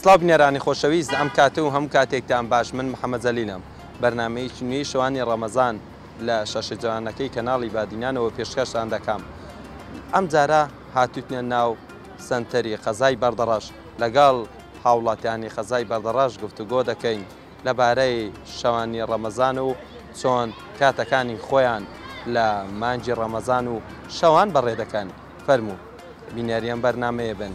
سڵاو بینەرانی خۆشەویست ئەم کاتە و هەموو کاتێکتان باش من محەممە جەلیلم بەرنمەیەکی نوێی شەوانی ڕەمەزان لە شەشە جوانەکەی کەناڵی بادینانەوە پێشکەشتان دەکەم ئەم جارە هاتوتنە ناو سنتەری قەزای بەردەڕەش لەگەڵ هاوڵاتیانی قەزای بەردەڕەش گفتوگۆ دەکەین لەبارەی شەوانی ڕەمەزان و چۆن کاتەکانی خۆیان لە مانگی ڕەمەزان و شەوان بەڕێ دەکەن، فەرموو بینەری ئەم بەرنامەیە بن.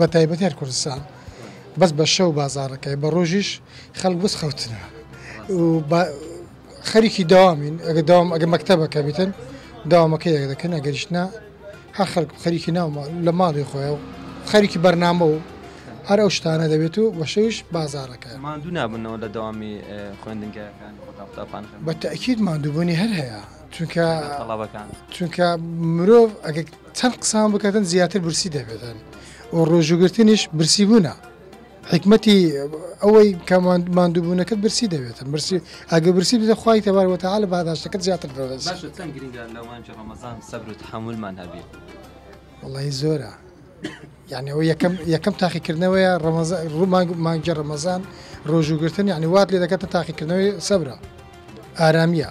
بەتایبەتی هەر کوردستان بەس بە شەو بازارەکەی بە ڕۆژیش خەڵک بس خەوتنە خەریکی داوامین ئەگە داوام ئەگە مەکتتەبەکە بیتن داوامەکەی یەک دەکەن ئەگەریشنا هەر خەرک خەریکی ناومە لە ماڵی خۆیەوە خەریکی بەرنامە و هەر ئەو شتانە دەبێت و بەشەویش بازارەکە مادوو نابنەوە لە داوامی خوێندنگەکان قوتابخان بە تاکیید مادووبوونی هەر هەیە چونکە تەڵابەکان چونکە مرۆڤ ئەگە چەند قسان بکەتن زیاتر برسی دەبێتن و ڕۆژوو گرتنیش برسی بوونە حکمەتی ئەوەی کە ماندووبوونەکەت برسی دەبێتن برسی ئەگە برسی بدە خخوای تەبار وتەها لە باداشتەکەت زیاتر دەڵێت حملمان هەبی وڵی زۆرە یانەوە یەکەم یەکەم تاقیکردنەوەیە ڕەمەزە ڕوومانگ مانگی ڕەمەزان ڕۆژوو گرتن یعنی وات لێ دەکەتە تاقیکردنەوەی سەبرا ئارامیە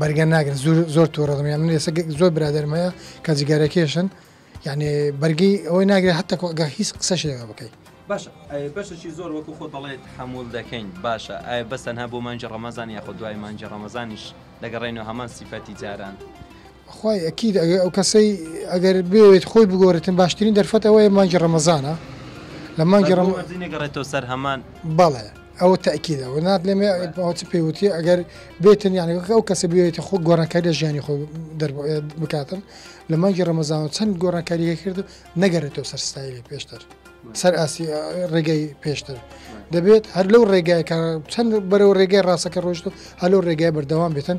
بەرگە ناگرن زور زۆر تووڕەم یان من ێسە زۆر برادرم هەیە کە جگەرەکێشن یعنی بەرگی ئەوەی ناگرێت هەتا کۆگە هیچ قسە شێوە بکەیت باش بەشەشی زۆر وەکو خۆ دەڵێت حمول دەکەین باشە ئایا بەسەنها بۆ مانجی ڕەمەزان یاخۆ دوای مانجی ڕەمەزانیش دەگەڕێنەوە هەمان سیفەتی جاران خوای ئەکید ئەگەر ئەوکەسەی ئەگەر بێوێت خۆی بگۆرێتن باشترین دەرفەت ئەوەیە مانگی رەمەزانە لە مانگی رەم. بەس بۆ وەرزی نەگەڕێتەوە سەر هەمان. بەڵێ ئەوە تەئکیدە وەنات لێم ئەوە چ پێ وتی ئەگەر بێتن یانی وەک ئەو کەسە بێوێتە خۆ گۆرانکاری لە ژیانی خۆی دەر بکاتن لە مانگی رەمەزانەوە چەند گۆرانکاری هەکرد نەگەرێتەوە سەر ستایلی پێشتر سەر ئاسی رێگەی پێشتر دەبێت هەر لەو رێگایکە چەند بەرەو رێگەی راسەکە رۆشت و هەلو رێگای بەردەوام بێتن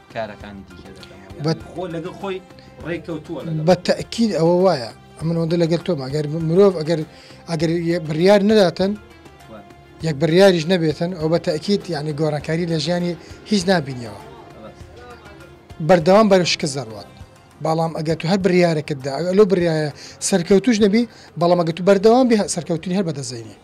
کارەکانی دیکە خۆی ڕێککەوتووە بە تەکیل ئەوە وایە ئەمن ئەوەندە لەگەل تۆم ئەگەر مرۆڤ ئەگەر ئەگەر بڕیار نەداتن یەک بڕیاریش نەبێتن ئەو بە تەکیت یعنی گۆڕانکاری لە ژیانی هیچ نبینیەوە بەردەوام بەرە شکست دەڕوات بەڵام ئەگە تو هەر بڕارەکەتدا ئەگە لەو برایە سەرکەوتوش نەبی بەڵام ئەگە تو بەردەوام بێ سەرکەوتنی هەر بەدەزینی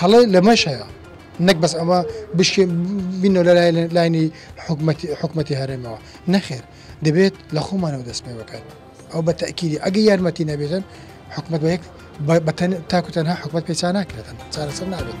هەڵێ لەمەش هەیە نەک بەس ئەمە بشکێ بینەوە لە لاینی حکوومەتی هەرێمەوە نەخێر دەبێت لە خۆمانەوە دەست پێ بکەن ئەو بە تاکیری ئەگە یارمەتی نەبێتن حکومت بەیەک بەتەن تاکو تەنها حکومت پێچان ناکرێتن چارەسەر نابێت.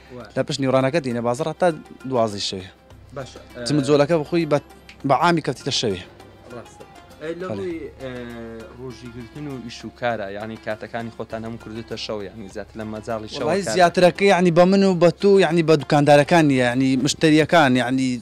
لە پشت نیوڕانەکە دینە بازڕ هەتا دوازی شەوێ جمجۆلەکە بخۆی بە بەعامی کەفتیتە شەوێ ڕۆژی گرتن و ئیش و کارە یعنی کاتەکانی خۆتان هەم کردوتە شەو یعنی زیات لە مەجای شەوی زیاترەکە یعنی بە من و بە تو یعنی بە دوکاندارەکان یعنی مشتریەکان یعنی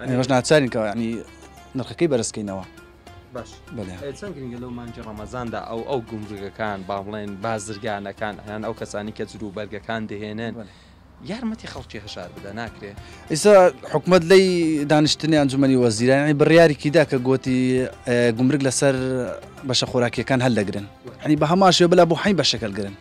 ئێمەش ناچارین کە یعنی نرخەکەی بەرزکەینەوە باش بەڵێ ئێ، چەند گرنگە لەو مانجی ڕەمەزاندا ئەو ئەو گومرگەکان با بڵێن بازرگانەکان یان ئەو کەسانی کە جلو بەرگەکان دەهێنن بەڵێ. یارمەتی خەڵکی هەژار بدا ناکرێ ئیسا حکومت لی دانیشتنی ئەنجومەنی وەزیران ی بڕیاریکی دا کە گۆتی اه، گومرگ لەسەر بەشە خۆراکیەکان هەلدەگرن هەنی بە هەمان شێوە بلا بۆ حەین بەشەکەلگرن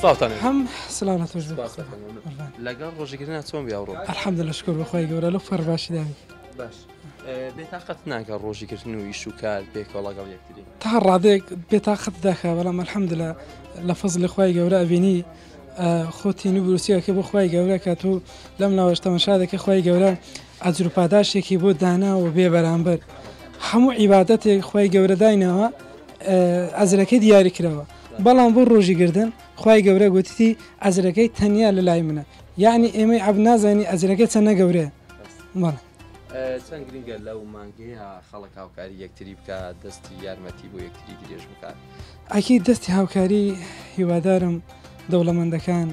سڵاوتان هەم سلام لەتۆش سپاس لە خۆم. قوربان. لەگەڵ ڕۆژگرنا چۆن بیا ڕۆ الحمد لە شکر بەخوای گەورە لە فەر باشی داوی باش بێتاقەت ناکە ڕۆژی کردن و ئیش و کار پێکەوە لەگەڵ یەکتری تا ڕادێک بێتاقەت داخە بەڵام الحمد لە لە فەز لە خوای گەورە ئەبینی خۆتین و بروسیەکە بۆ خوای گەورە کە تو لەم ناوەش تەمەشا دەکە خوای گەورە ئەجر و پاداشتێکی بۆ داناوە بێ بەرامبەر هەموو عیبادەتێک خوای گەورە دایناوە ئەجرەکەی دیاری کراوە بەڵام بۆ ڕۆژی گردن خوای گەورە گوتیتی ئەجرەکەی تەنیا لە لای منە یعنی ئێمەی عەبد نازانی ئەجرەکە چەنە گەورەیە بەڵێ. چەند گرنگە لەو مانگەیە خەڵک هاوکاری یەکتری بکات دەستی یارمەتی بۆ یەکتری درێژ بکات. ئەکید دەستی هاوکاری هیوادارم دەوڵەمەندەکان،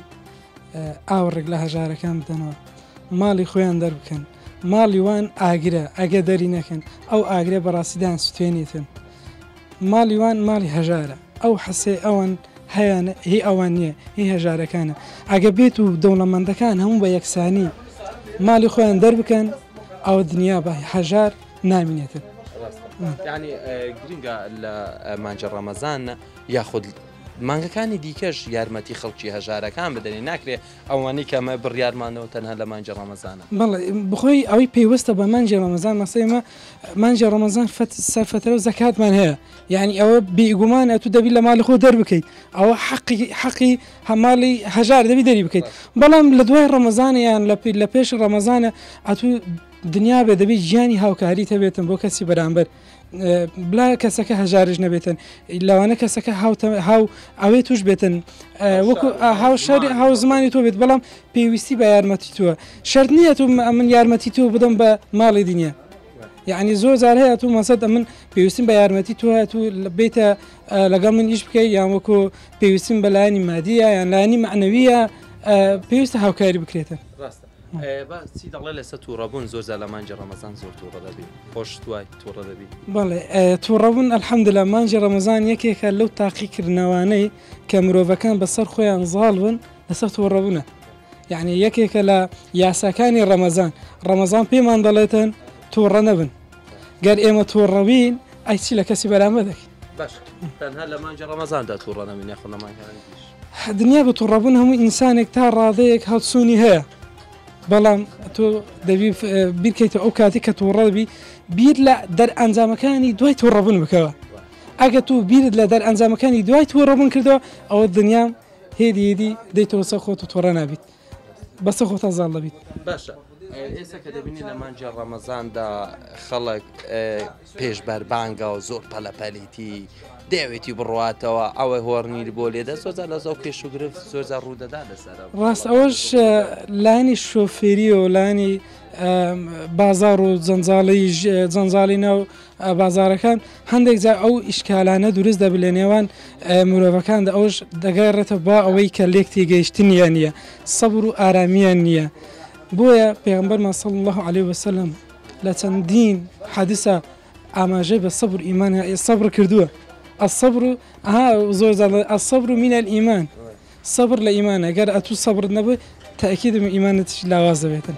ئاوڕێک لە هەژارەکان بدەنەوە ماڵی خۆیان دەربکەن ماڵی وان ئاگرە ئەگە دەری نەکەن ئەو ئاگرە بەڕاستیدان سوێنیتن ماڵی وان ماڵی هەژارە ئەو حەسێ ئەوەن هەیەن هی ئەوان نییە هی هەژارەکانە ئەگە بێت و دەوڵەمەندەکان هەموو بە یەکسانی ماڵی خۆیان دەربکەن ئەو دنیا بە هەژار نامینێتن ینی گرنگە لە مانجە ڕەمەزان یاخود مانگەکانی دیکەش یارمەتی خەڵکی هەژارەکان بدەنێ ناکرێ ئەوانەی کە ئەمە بڕیارمانەوە تەنها لە مانگی ڕەمەزانە. بەڵێ بەخۆی ئەوەی پەیوەستە بە مانگی ڕەمەزان مەسەی ئێمە مانگی ڕەمەزان فەت سەر فەترەو زەکاتمان هەیە یانی ئەوە بیگومان ئەتوو دەبی لە ماڵی خۆ دەربکەیت ئەوە حەقی حەقی هەماڵی هەژار دەبی دەری بکەیت بەڵام لە دوای ڕەمەزانە یان لە پی لە پێش ڕەمەزانە ئەتوو دنیا بێ دەبی گیانی هاوکاری تەبێتن بۆ کەسی بەرامبەر. بلا کەسەکە هەژارش نەبێتن لەوانە کەسەکە هاوتە هاو ئەوێ توش بێتن وەکو هاو شاری هاو زمانی تۆ بێت بەڵام پێویستی بە یارمەتی تووە شرت نییە تو من یارمەتی تۆ بدەم بە ماڵی دنیا یعنی زۆر زار هەیە تو مەسەد ئەمن پێویستم بە یارمەتی تۆ هەیە تو بێتە لەگەڵ من ئیش بکەی یان وەکو پێویستم بە لایانی مادیە یان لایانی معنەویە پێویستە هاوکاری بکرێتن ڕاستە تووڕەبوون ئەلحەمدللا مانجی ڕەمەزان یەکێکە لەو تاقیکردنەوانەی کە مرۆڤەکان بەسەر خۆیان زاڵ بن لەسەر تووڕەبوونە یعنی یەکێکە لە یاساکانی ڕەمەزان ڕەمەزان پێمان دەڵێتن تووڕە نەبن گەر ئێمە تووڕەبین ئەیچی لە کەسی بەرامە دەکەین باش تەنها لە مانجی ڕەمەزاندا تووڕە نەبین یاخۆ لە مانگەکانی دیش دنیا بە توڕەبوون هەموو ئینسانێک تا ڕادەیەک هەڵسوونی هەیە بەڵام تۆ دەبی بیرکەیتە ئەو کاتی کە توڕەبی بیر لە دەرئەنجامەکانی دوای توڕەبوون بکەوە ئەگە تو بیرت لە دەرئەنجامەکانی دوای توڕەبوون کردەوە ئەوە دنیا هێدیدی دەیتەوە سە خۆت و تۆڕە نابیت بەسە خۆتە زاڵ دەبیت باشە ئێستا کە دەبینی لە مانجی ڕەمەزاندا خەڵک پێش بەربانگە و زۆر پەلەپەلیتی دەیەوێتی بڕواتەوە ئەوەی هۆڕنیر بۆ لێدە زۆزار لە زۆ کێش و گرفت زۆزار ڕوودەدا لەسەر ڕاست ئەوەش لانی شۆفێری و لانی بازار و جەنجاڵی جەنجاڵی ناو بازارەکان هەندێک جا ئەو ئیشکالانە دروست دەبێت لە نێوان مرۆڤەکاندا ئەوش دەگای ڕێتە با ئەوەی کە لێکتی گەیشتنیان نییە سەبر و ئارامیان نییە بۆیە پێغمبەر مەسەڵ الله عليه وسلم لە چەندین حەدیسا ئاماژەی بە سەبر و ئیمان ە سەبر کردووە الصبر ها زۆر جاڵێ الصبر من الإيمان سەبر لە ئیمانە گەر ئەتوو سەبرت نەبێت تاکیدم ئیمانت لاواز دەبێتن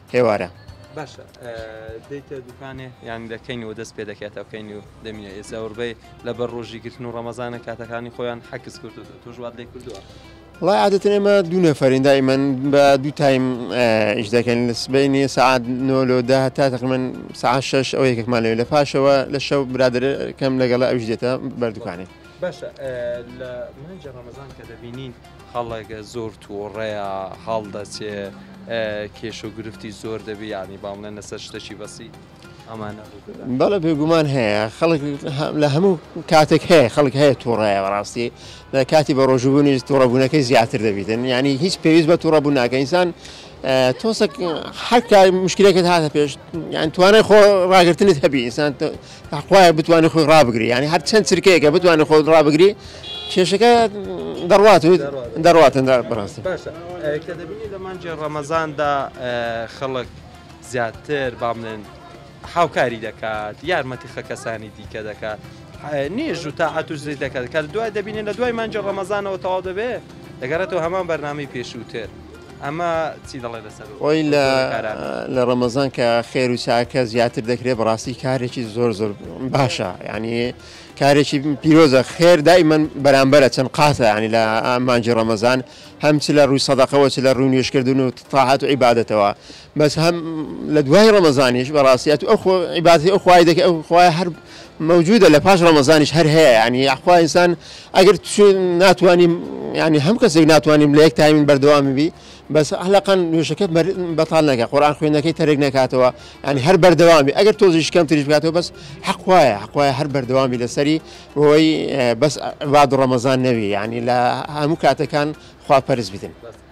ئێوارە. باشە دێیتە دوکانێ یان لە کەینەوە دەست پێ دەکاتەوە کەینی و دەمینە ئێ زەوربەی لەبەر ڕۆژی گرتن و ڕەمەزانە کاتەکانی خۆیان حەکس کردو توشوات لێ کردووە وڵای عادەت ئێمە دوو نەفرین دائیمەن بە دوو تایم ئیش دەکەن لە سبینی سعات نۆلۆدا هەتا تقمن سعات شش ئەو یەکێکمان لەوێ لە پاشەوە لە شەو برادەکەم لەگەڵ ئەوش دێتە بەردووکانی باشە لە مانجی ڕەمەزان کە دەبینین خەڵک زۆر تووڕەیە هەڵدەچێ کێشە و گرفتی زۆر دەبێ یانی با بڵێن لەسەر شتەکی بەسی ئەمانە بەڵە بێگومان هەیە خەڵک لە هەموو کاتێک هەیە خەڵک هەیە تووڕەیە بەڕاستی لە کاتی بە ڕۆژبوونی تووڕەبوونەکەی زیاتر دەبیتن ینی هیچ پێویست بە تووڕەبوو ناکە ئینسان تۆسەک حکای مشکلەکەت هاتە پێش یان توانای خۆ ڕاگرتنت هەبی ئینسان خوایە بتوانانی خۆی ڕابگری یانی هەر چەند چرکەیەکە بتوانانی خۆت ڕابگری کێشەکە دەڕوات و دەڕاتن بەڕاستی باشە کە دەبینی لە مانجێ ڕەمەزاندا خەڵک زیاتر با بڵێن هاوکاری دەکات یارمەتی خە کەسانی دیکە دەکات نێژ و تاعات و زری دەکات کە دوای دەبینێن لە دوای مانجی ڕەمەزانەوە تەواو دەبێ دەگەڕێتەوە هەمان بەرنامی پێشووتر ئەمە چی دەڵێ لەسەر خۆی لە لە ڕەمەزان کە خێر و چاکە زیاتر دەکرێت بەڕاستی کارێکی زۆر زۆر باشە ینی کارێکی پیرۆزە خێر دایمەن بەرامبەرە چەند قاتە ینی لە ئامانجی ڕەمەزان هەم چ لە ڕووی سەدەقەوە چ لە ڕوون نوێشکردن و تاحات و عیباەتەوە بەس هەم لە دوای ڕەمەزانیش بەڕاستیات ئەو عیباتی ئەو خخوای دەکە ئەو خخوای هەر مەوجودە لە پاش ڕەمەزانیش هەر هەیە یانی یاخوا ئینسان ئەگەر ناتوانیم یانی هەم کەسێک ناتوانیم لە یەک تایمین بەردەوامی بی بەس ئەلقەن نوێشەکە بەتال نەکە قۆران خوێندەکەی تەرێک نکاتەوە ینی هەر بەردەوامی ئەگەر تۆزیش کەم تریش بکاتەوە بەس حەقواە حقواە هەر بەردەوامی لەسەری بۆی بەس واد ڕەمەزان نەوی ینی لە هەموو کاتەکان خوا پەرز بدن.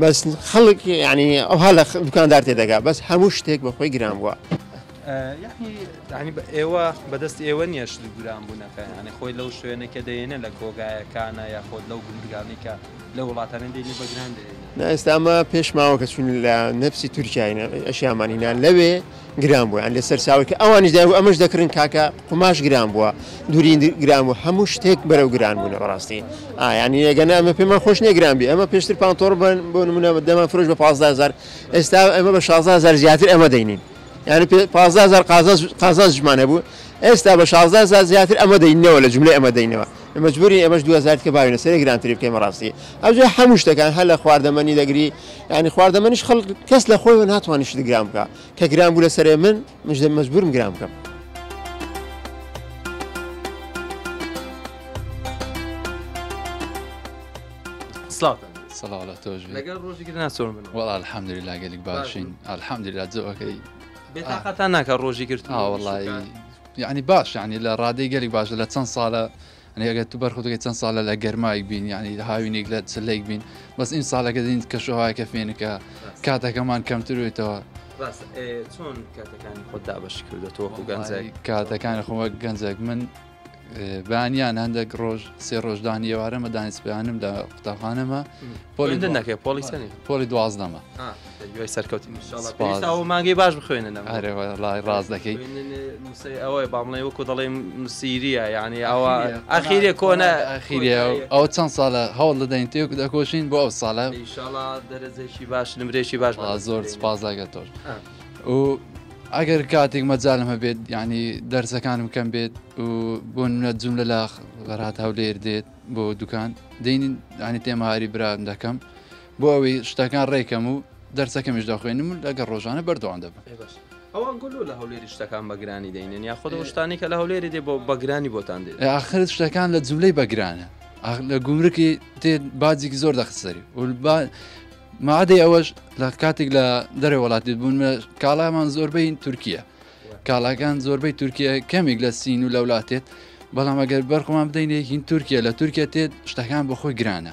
بەس خەڵک یعنی ئەوها لە دوکاندار تێدەگا بەس هەموو شتێک بە خۆی گران بووە یعنی بە ئێوە بەدەست ئێوە نیەش گران بوونەکە یعنی خۆی لەو شوێنێکە دەێنە لە کۆگایەکانە یا خۆت لەو گوندگانی کە لە وڵاتانی دێنی بەگران دێنە ئێستامە پێشماوە کە چون لە نەفسی تورکیاینە ئەشیامانینا لەوێ گران بوو یان لەسەر چاوەی کە ئەوانیش دایبوو ئەمەش دەکڕین کاکە قوماش گران بووە دووری گران بوو هەموو شتێک بەرەو گران بوونە بەڕاستی ئا یانی ئەگەنا ئەمە پێمان خۆش نیە گران بێ ئەمە پێشتر پانتۆڕ بن بۆ نمونە دەمان فرۆش بە پازدە هەزار ئێستا ئەمە بە شازدە هەزار زیاتر ئەمە دەینین یانی پێ پازدە هەزار قازانج قازانجمان هەبوو ئێستا بە شازدە هەزار زیاتر ئەمە دەینەوە لە جوملەی ئەمە دەینەوە مەجبورین ئێمەش دوو هەزار تکە باوینە سەرێ گرانتری بکەین بەڕاستی ئەوجا هەموو شتەکان هەر لە خواردەمەنی دەگری یعنی خواردەمەنیش خەڵک کەس لە خۆی ناتوانانی شت گرام بکە کە گران بوو لە سەرێ من مژدە مەجبورم گرام بکەم سڵاتە سەڵاڵە تۆژ لەگەڵ ڕۆژێکی ناسۆر من وڵ الحەمدری لاگەلێک باشین الحەمدری لا جەوەکەی بێتاقەتان ناکە ڕۆژی کرد ئاوەڵی یەعنی باش یەعنی لە ڕادەی گەلێک باشە لە چەن سالە یەعنی ئەگەر تو بەرخۆت بکەی چەن سالە لە گەرمایک بین یەعنی هاوینیک لە چلەیک بین بەس ئیمسالەکە دین کەش و هەوایەکە فێنکە کاتەکەمان کەمتر بێتەوە. ڕاستە ئێ چۆن کاتەکانی خۆت دابەش کردۆتەوە وەکو گەنجێک؟ کاتەکانی خۆم وەک گەنجێک من بانیان هەندێک ڕۆژ سێ ڕۆژ دانی ئێوارەمە دانیسپیانم لە قوتابخانەمە پۆلی هێندە نەکەی پۆلی چەنی؟ پۆلی دوازدەمە دوای سەرکەوتن ئەو مانگەی باش بخوێنن ئەرێوەڵی ڕاز دەکەی ئەوەی بامڵێ وەکو دەڵێ مسیریە یعنی ئەوە ئەخیرە کۆنە ئەخیری ئەو چەند ساڵە هەوڵ دەدەین تێک دەکۆشین بۆ ئەو ساڵە ئیشاڵا دەرەزێکی باش نمرێکی باش زۆر سپاس لەگە تۆش و ئەگەر کاتێک مەجالم هەبێت ینی دەرسەکانم کەم بێت و بۆ نە جوم لە لاخ غەرات هەولێر دێت بۆ دوکان دێنین ینی تێماری برام دەکەم بۆ ئەوەی شتەکان ڕێکەم و دەرسەکەمیش دەخوێنم و لەگەڵ ڕۆژانە بەردەوام دەبم. ئەی باشە ئەوان گۆ لۆ لە هەولێری شتەکان بە گرانی دەینێن یاخود ئەو شتانەی کە لە هەولێری دێ بۆ بە گرانی بۆتان دێت؟ ئاخر شتەکان لە جملەی بە گرانە ئاخ لە گومرکی دێ باجێکی زۆر دەخسەری و با مادەی ئەوەش لە کاتێک لە دەرێ وڵاتی بوون کاڵامان زۆربەی تورکیە کاڵاکان زۆربەی تورکیە کەمێک لە سین و لە وڵاتێت بەڵام ئەگەر بەرخمان بدەینێ هین تورکیە لە تورکیا تێت شتەکان بۆ خۆی گرانە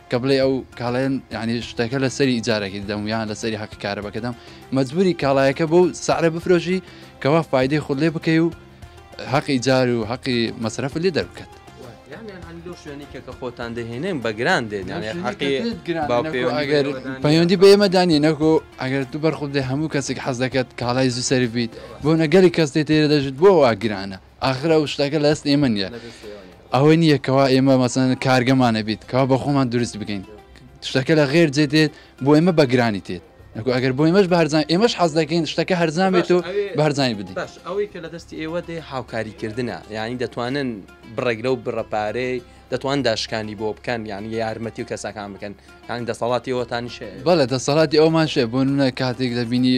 کە بڵێ ئەو کاڵێن یعنی شتەکە لە سەری ئیجارەکەی دەم یان لە سەری حەقی کارەبەکە دەم مەجبوری کاڵایەکە بۆ سعرە بفرۆشی کەوا فیدی خود لێ بکەی و حەقی جار و حەقی مەسرف لێ دەربکات شوێنێکەکە خۆتان دەهێنێن بە گران دێن ئەگەر پەیوەندی بە ئێمە دانی نەکۆ ئەگەر تو بەرخودێ هەموو کەسێک حەز دەکات کاڵای زوو سەربیت بۆ نەگەری کەس دێ تێرە دەژیت بۆ وا گرانە ئاخر ئەو شتەکە لەست ئێمە نییە ئەوەی نییە کەوا ئێمە مەسەن کارگەمانە بیت کەوا بە خۆمان دروست بکەین شتەکە لە غێر جێ دێت بۆ ئێمە بەگرانی تێت نکو ئەگەر بۆ ئێمەش بارزان ئێمەش حەز دەکەین شتەکە هەرزان بێت و بارزانانی بدی باش ئەوەی کە لە دەستی ئێوە دێ هاوکاریکردە یعنی دەتوانن بڕێک لەو بڕەپارەی دەتوان داشکانی بۆ بکەن یان یارمەتی و کەسەکان بکەن یان دەسەڵاتی ئەوتانیشێ بەڵێ دەسەڵاتی ئەومان شێ بۆ نە کاتێک دەبینی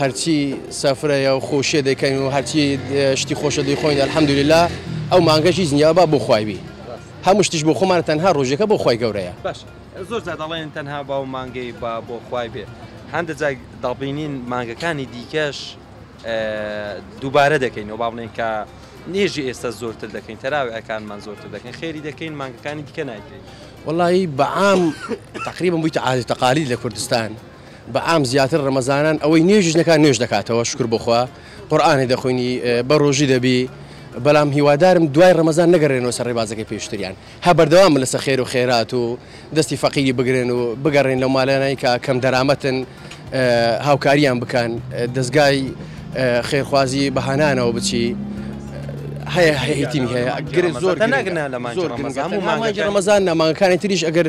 هەرچی سفرەیە و خۆشیە دەیکەین و هەرچی شتی خۆشە دەیخۆین الحمدللە ئەو مانگەش هیچ نیە با بۆ خوای بی هەموو شتیش بۆ خۆمانە تەنها ڕۆژەکە بۆ خوای گەورەیە. باشە زۆر جار دەڵێن تەنها با و مانگەی با بۆ خوای بێ هەندە جار دەڵبینین مانگەکانی دیکەش دووبارە دەکەینەوە با بڵێن کە نێژی ئێستا زۆرتر دەکەین تەراویحەکانمان زۆرتر دەکەین خێری دەکەین مانگەکانی دیکە نایکەین. وەڵایی بەعام تەقریبەن بوویتە عادەت و تەقالید لە کوردستان. بە عام زیاتر ڕەمەزانان ئەوەی نوێژیش نەکات نوێژ دەکاتەوە شوکر بۆ خوا قورئانی دەخوێنی بە ڕۆژی دەبی بەڵام هیوادارم دوای ڕەمەزان نەگەڕێنەوە سەر ڕێبازەکەی پێشتریان هە بەردەوام لەسە خێر و خێرات و دەستی فەقیری بگرن و بگەڕێن لەو مالانای کە کەم دەرامەتن هاوکاریان بکەن دەستگای خێرخوازی بەهانانەوە بچی هەیە هەیەتیمی هەیە گرێ زۆر نەگنا لە مانجی ڕەمەزان و مانگی ڕەمەزان نامانگەکانی تریش ئەگەر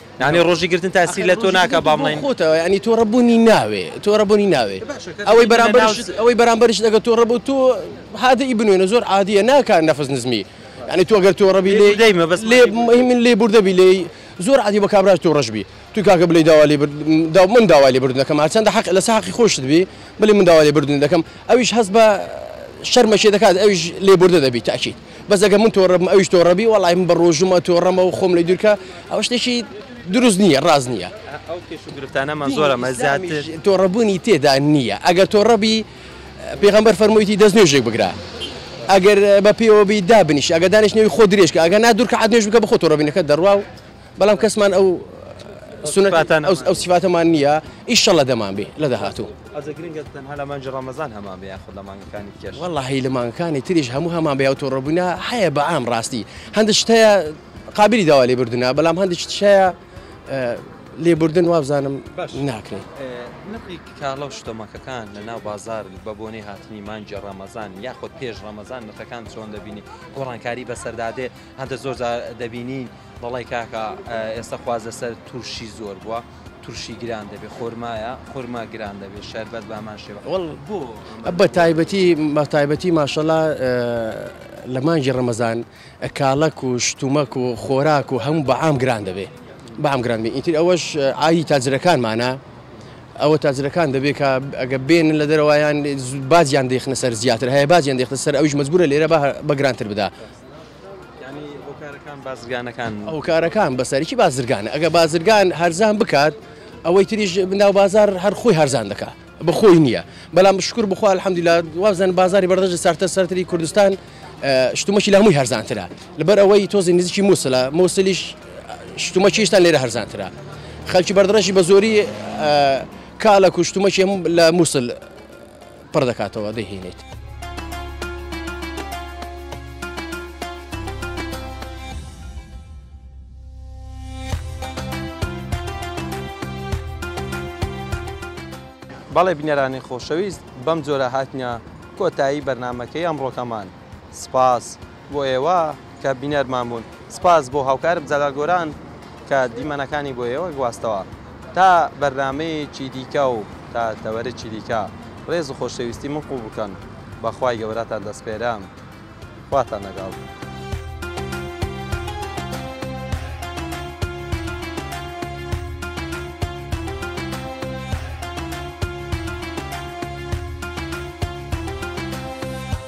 یانی ڕۆژی گرتن تاسیر لە تۆ ناکا بام ڵین خۆتەوە یانی تۆ ڕەبوونی ناوێ تۆ ڕەبوونی ناوێ ئەوەی بەرامبەرش ئەوەی بەرامبەرش لەگە تۆ ڕەبوو تۆ هادە ئی بنوێنە زۆر عادیە ناکان نەفس نزمی یعنی تۆ گەر تۆ ڕەبی لێ دەیمە بەس لێ من لێ بوردە بی لێی زۆر عادی بە کابراش تۆ ڕژبی تو کاکە بلی داوا لێ دا من داوا لێ بردن دەکەم هەرچەندە حق لە ساقی خۆشت بی بلی من داوا لێ بردن دەکەم ئەویش هەست بە شەرمەشێ دەکات ئەویش لێ بوردە دەبی تاکیت بەس ئەگەر من تۆڕە بم ئەویش تۆڕە بی وەڵای من بە ڕۆژووم ئەتۆڕەمە و خۆم لێ دوور کە ئەوە شتێکی دروست نییە ڕاست نییە ئەو کێش و گرفتانەمان دینی زۆرە مە ئیسلامیش زیاتر تۆڕەبوونی تێدا نییە ئەگەر تۆڕە بی پێغەمبەر فەرموویەتی دەست نوێژێک بگرە ئەگەر بە پێوە بی دابنیشە ئەگەر دانیشتنەوی خۆ درێژ کە ئەگەر نا دوو رکەعات نوێژ بکە بە خۆ تۆڕەبینەکەت دەڕوا و بەڵام کەسمان ئەو ئەو سیفاتەمان نییە ئیشەڵە دەمان بێ لە داهاتوو لەمانجی ڕەمەزان هەمان بێ خود لە مانگەکانی کێش وەڵی لە مانگەکانی تریش هەموو هەمان بێ ئەوتۆ ڕبوونا هەیە بە ئام ڕاستی هەندە شتەیە قابلی داوا لێ بردننا بەڵام هەندی شتشەیە لێبوردن وابزانم ناکرێت نقی کاڵە و شتۆمەکەکان لە ناو بازار بە بۆنی هاتنی مانجی ڕامەزان یاخود پێش ڕامەزان نرخەکان چۆن دەبینی گۆڕانکاری بەسەردادێ هەندە زۆر دەبینین دەڵێ کاکە ئێستا خواز لەسەر تورشی زۆر بووە تورشی گران دەبێت خۆرمایە خۆرما گران دەبێت شەربەت بامان شێوە بۆ بە تایبەتی مەتایبەتی ماشەڵا لە مانگی ڕەمەزان کاڵک و شتومەک و خۆراک و هەموو بەعام گران دەبێت بەام گران بێت ئیتر ئەوەش ئاوی تاجرەکانمانە ئەوە تاجرەکان دەبێت کە ئەگە بێن لە دەرەوەیان باجیان دەخنە سەر زیاتر هەیە باجیان دەخنە سەر ئەوش مجبورە لێرە بە گرانتر بدا هۆکارەکان بەسەرکی بازرگانە ئەگە بازرگان هەرزان بکات ئەوەی تریژ بناو بازار هەر خۆی هەرزان دەکات بەخۆی نییە بەڵام شکر بخوا الحەمدلا وابزان بازاری بەردەژ سارتە سەرتری کوردستان شتومەکی لە هەمووی هەرزانترە لەبەر ئەوەی تۆزی نزیکی مووسلە مووسلیش شتومەکیشتان لێرە هەرزانترە خەلکی بەردڕژی بە زۆری کاڵە کوشتومەکی هەموو لە مووسل پڕ دەکاتەوە دەیهێنێت. بەڵێ بینەرانی خۆشەویست بەم جۆرە هاتینە کۆتایی بەرنامەکەی ئەمڕۆکەمان. سپاس بۆ ئێوە کە بینەرمان بوون. سپاس بۆ هاوکارم جەلال گۆران کە دیمەنەکانی بۆ ئێوە گواستەوە. تا بەرنامەیەکی دیکە و تا تەوەرەکی دیکە ڕێز و خۆشەویستی من قبوڵ بکەن. بە خوای گەورەتان دەسپێرم. خواتان لەگەڵ.